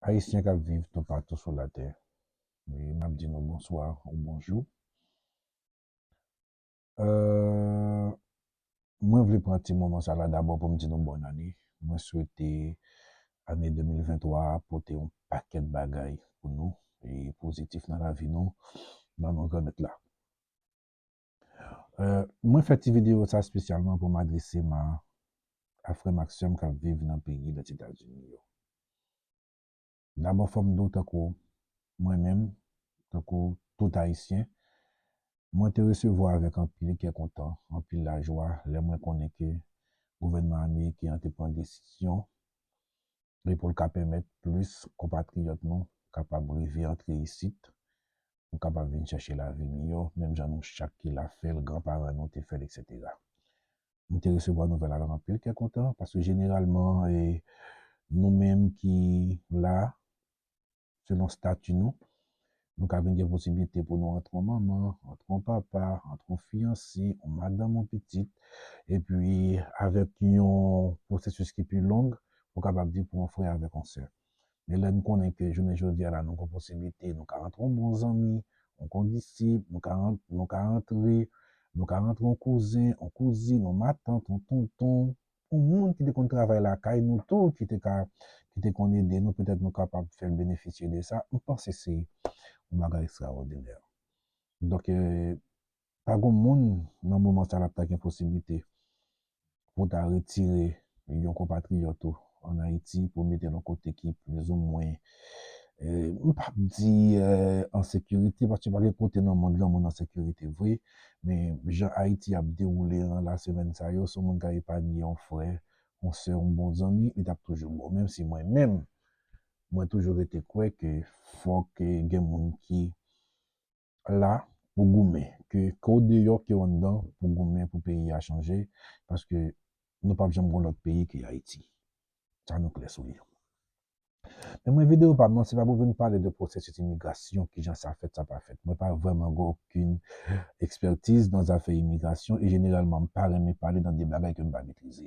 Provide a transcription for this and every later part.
Ayisyen k ap viv toupatou sou latè, m ap di nou bonswa ou bonjou. Mwen vle pran ti moman sa la dabò pou m di nou bòn ane. Mwen swete ane 2023 a pote yon pakèt bagay pou nou e pozitif nan lavi nou nan non Granmèt la. Mwen fè ti videyo sa spesyalman pou m adrese ma a frè m ak sè m k ap viv nan peyi Lèzetazini yo. Dabò fò m di w tankou mwen menm, tankou tout Ayisyen, mwen te resevwa avèk anpil kè kontan, anpil lajwa lè mwen konnen ke gouvènman ameriken an te pran desizyon pou l ka pèmèt plis konpatriyòt nou kapab rive antre isit nou kapab vin chèche lavi miyò menm jan nou chak ki la fè l, gran paran nou te fè l eksetera. Mwen te resevwa nouvèl avèk anpil kè kontan paske jeneralman e nou menm ki la selon stati nou, nou ka vin gen posiblite pou nou antre yon manman, antre yon papa, antre yon fiyanse, yon madanm, yon pitit epi avèk yon pwosesis ki pi long ou kapab di pou yon frè avèk yon sè. Men lè n konnen ke jounen jodi a la nou gen yon posiblite, nou ka rantre yon bon zanmi, yon kondisip, nou ka nou ka rantre nou ka rantre yon kouzen, yon kouzin, yon matant, yon tonton, yon moun ki te konn travay lakay nou tou ki te ka ki te konn ede nou, petèt nou kapab fè l benefisye de sa, m panse se yon bagay ekstraòdinè. Donk Pa gon moun nan moman sa lap ta gen posiblite pou w ta retire yon konpatriyòt ou an Ayiti pou w mete l yon kote ki plis ou mwen, m pa p di an sekirite, paske pa gen kote nan mond lan moun an sekirite vre, men jan Ayiti ap dewoule an la semèn sa yo, si yon moun ka epanye yon frè, yon sè, yon bon zanmi, li t ap toujou bon. Menm si mwen menm, mwen toujou rete kwè ke fòk gen moun ki la pou goumen ke ke w deyò ke w anndan pou goumen pou peyi a chanje paske nou pap janm gon lòt peyi ke Ayiti sa nou klè sou li men mwen videyo pa m nan se pa pou vin pale de pwosesis imigrasyon kijan sa fèt sa pa fèt mwen pa vrèman gen okin ekspètiz nan zafè imigrasyon e jeneralman m pa renmen pale nan de bagay ke m pa metrize.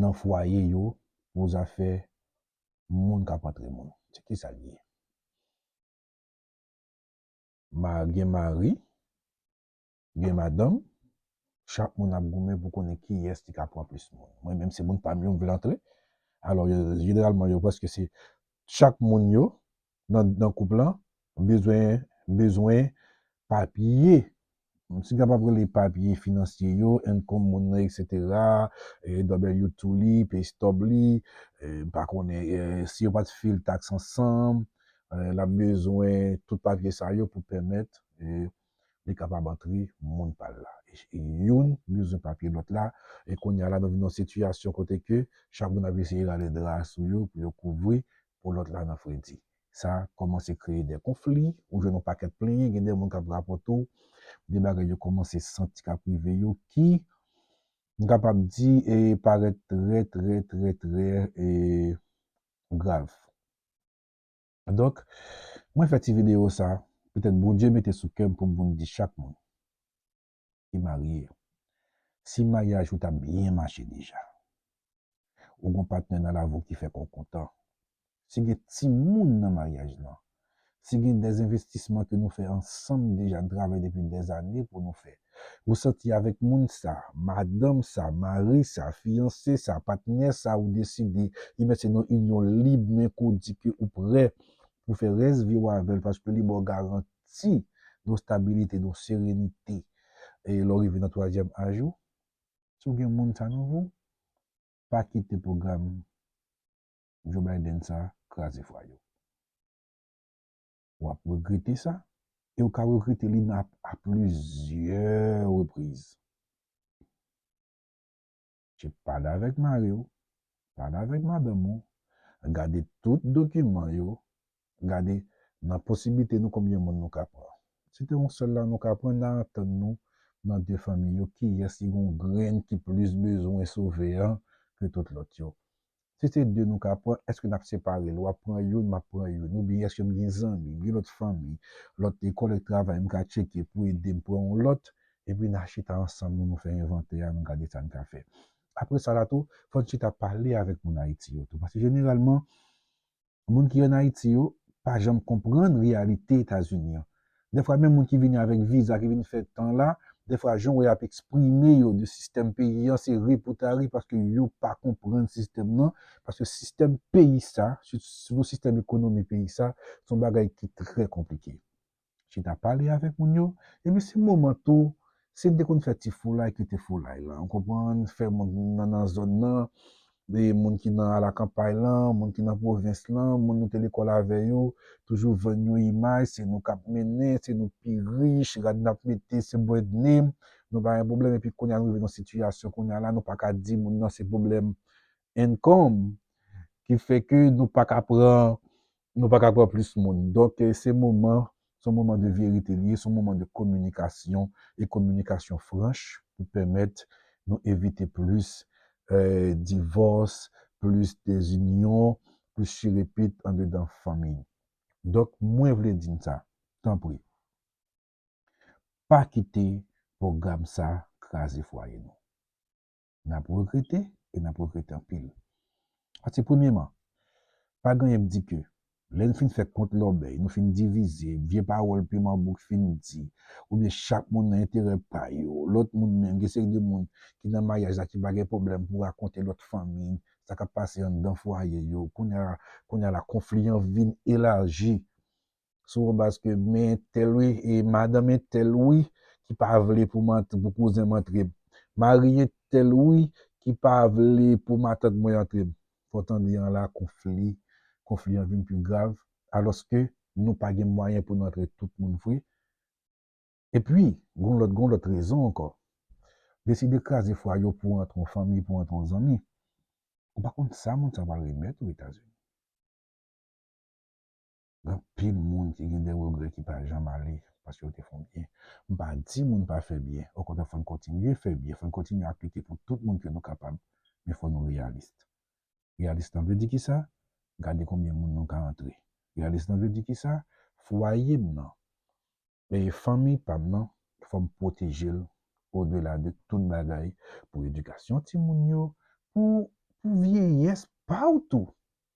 nan fwaye yo pou zafè moun kap antre moun se kisal ye ma gen mari gen madanm chak moun ap goumen pou konnen kiyès ki ka pran plis moun mwen menm se moun pam yo m vle antre alò yo jeneralman yo prèske se chak moun yo nan nan koup lan bezwen bezwen papye m si kapab rele papye finansye yo income moun nan etc w two li pay stub li m pa konnen si yo pat fil tax ansanm lap bezwen tout papye sa yo pou pèmèt li kapab antre moun pal la e youn bezwen papye lòt la e kounya la nou vin nan sitiyasyon kote ke chak moun ap eseye rale dra a sou yo pou yo kouvri po lòt la nan fredi sa kòmanse kreye de konfli ou jwenn yon pakèt plenyen gen de moun kap rapòte w de bagay yo kòmanse santi kap rive yo ki m kapab di e parèt trè trè trè trè e grav. Donk, mwen fè ti videyo sa, petèt Bondye mete sou kè m pou m vin di chak moun ki marye, si maryaj ou ta byen mache deja, ou gen yon patnè nan lavi w ki fè kè w kontan, si gen timoun nan maryaj lan, si gen dèzenvestisman ke nou fè ansanm deja, n travay depi dèzane pou nou fè, Ou santi avèk moun sa, madanm sa, mari sa, fiyanse sa, patnè sa ou deside ebyen se nan inyon lib men ke w di ke ou prè pou fè rès vi w avè l paske li ba w garanti yon stabilite, yon serenite e lè w rive nan twazyèm aj ou. Si w gen moun sa nan vi w, pa kite pwogram Joe Biden sa kraze fwaye w. ou ap regrete sa, e ou ka regrete li nan a plizyè repriz. Che pale avèk mari ou, pale avèk madanm ou, gade tout dokiman yo, gade nan posiblite nou konbyen moun nou ka pran. Si te yon sèl la nou ka pran, nan antann nou nan de fanmi yo kiyès ki gen yon grenn ki plis bezwen sove an ke tout lòt yo. Si se 2 nou ka pran, èske n ap separe l? W ap pran youn, m ap pran youn. Oubyen èske m gen zanmi, m gen lòt fanmi, lòt kòlèg travay m ka tcheke pou ede m pran yon lòt? Epi n a chita ansanm nou, nou fè envantè a, nou gade sa n ka fè. Apre sa la tou, fò n chita pale avèk moun Ayiti yo tou. Paske jeneralman, Moun ki an Ayiti yo pa janm konprann reyalite Etazini an. Dèfwa menm moun ki vini avèk viza ki vin fè tan la, dèfwa jan w wè y ap eksprime yo de sistèm peyi an se ri pou ta ri paske yo pa konprann sistèm nan, paske sistèm peyi sa, sitou sistèm ekonomi peyi sa, se yon bagay ki trè konplike. chita pale avèk moun yo, epi se moman tou, si n te konn fè ti foulay ki te foulay lan, ou konprann, fè moun ki nan nan zòn lan, moun ki nan alakanpay lan, moun ki nan pwovens lan, moun nou te lekòl avè yo, toujou vann yon imaj, se nou k ap mennen, se nou k pi rich, rad n ap mete se bò etne, nou pa gen pwoblèm, epi kounye a nou rive nan sitiyasyon kounye a la, nou pa ka di moun nan se pwoblèm income ki fè ke nou pa ka pran nou pa ka pran plis moun. Donk, se moman, se yon moman de verite li ye, se yon moman de kominikasyon e kominikasyon franch pou pèmèt nou evite plis divòs, plis dezinyon, plis chirepit andedan fanmi. Donk, mwen vle di n sa, tanpri, pa kite pwogram sa kraze fwaye nou. n ap regrete e n ap regrete anpil. Pase premyeman, pa gen anyen k di ke lè n fin fè kont lòbèy, nou fin divize, vye pawòl piman bouk fin di, oubyen chak moun nan enterè pa yo, lòt moun menm, gen seri de moun ki nan maryaj la ki pa gen pwoblèm pou rakonte lòt fanmi sa k ap pase anndan fwaye yo, kounye a la konfli an vin elaji sou yon baz ke men entèl wi, e madanm entèl wi ki pa vle pou kouzen m antre m. Mari entèl wi ki pa vle pou matant mwen antre m. Fè w tande an la konfli, konfli an vin pi grav, alòske nou pa gen mwayen pou nou antre tout moun vre. E pi, gon lòt, gon lòt rezon ankò. Deside kraze fwa yo pou antre yon fanmi, pou antre yon zanmi. Ou pa konn sa moun sa pral remèt ou Etazini. Gen anpil moun ki gen de regrè ki pa janm ale paske yo te fè byen. M pa di moun pa fè byen, okontrè fò n kontinye fè byen, fò n kontinye ap lite pou tout moun ke nou kapab, men fò nou reyalis. Reyalis lan vle di ki sa? Gade konbyen moun nou ka antre. Reyalis lan vle di ki sa? Fwaye m nan, E fanmi pam nan fòm pwotejel odela de tout bagay pou edikasyon timoun yo pou pou vyeyès paw tou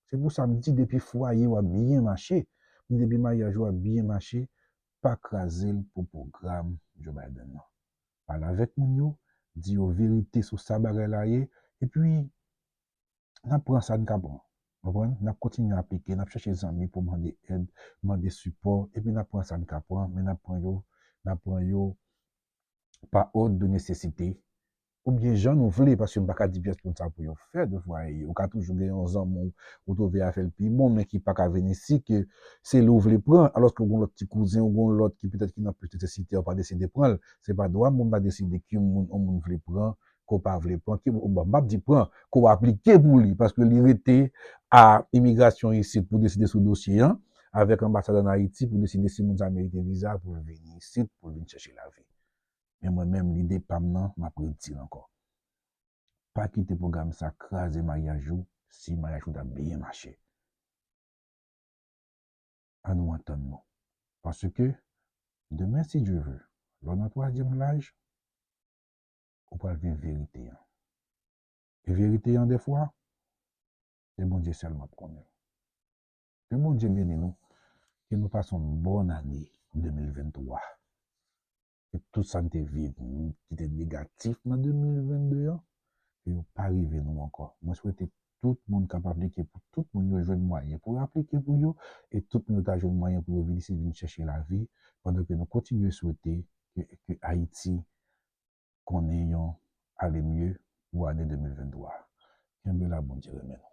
se pou sa mdi depi fwayew ap byen mache mdi depi maryaj ou ap byen mache pa krazel pou pwogram Joe Biden nan pale avèk moun yo di yo verite sou sa bagay la ye epi n ap pran sa n ka pran. Ou konprann? N ap kontinye aplike, n ap chèche zanmi pou mande èd, mande sipò, epi n ap pran sa n ka pran, men n ap pran yo, n ap pran yo pa òd de nesesite, oubyen jan nou vle, paske m pa ka di pyès moun sa pou yo fè devwa e. Ou ka toujou gen yon zanmi w ou twouve a fè l pi bon men ki pa ka vini si ke se li w vle pran, alòske w gen yon lòt ti kouzen, ou gen yon lòt ki petèt ki nan plis nesesite, ou pa deside pran l. Se pa dwa m pou m ta deside ki moun yon moun vle pran ke w pa vle pran, m p ap di pran, ke w aplike pou li, paske li rete a imigrasyon isit pou deside sou dosye an, avèk anbasad an Ayiti pou deside si moun sa a merite viza pou l vini isit, pou l vin chèche lavi. Men mwen menm, lide pa m nan, m ap redi l ankò, pa kite pwogram sa a kraze maryaj ou, si maryaj ou ta byen mache. An nou antann nou. Paske, demen si Dye ve, lè w nan twazyèm laj, ou pral viv verite an. E verite an dèfwa, se Bondye sèlman k konnen l. Ke Bondye beni nou, ke nou pase yon bòn ane 2023. Ke tout sa n te viv ki te negatif nan 2022 an, ke yo pa rive nou ankò. Mwen swete tout moun k ap aplike pou tout moun yo jwenn mwayen pou yo aplike pou yo, e tout moun yo ta jwenn mwayen pou yo vin isit vin chèche lavi, pandan ke nou kontinye swete ke Ayiti konnen yon ale mye pou ane 2023 a. Kenbe la Bondye renmen nou.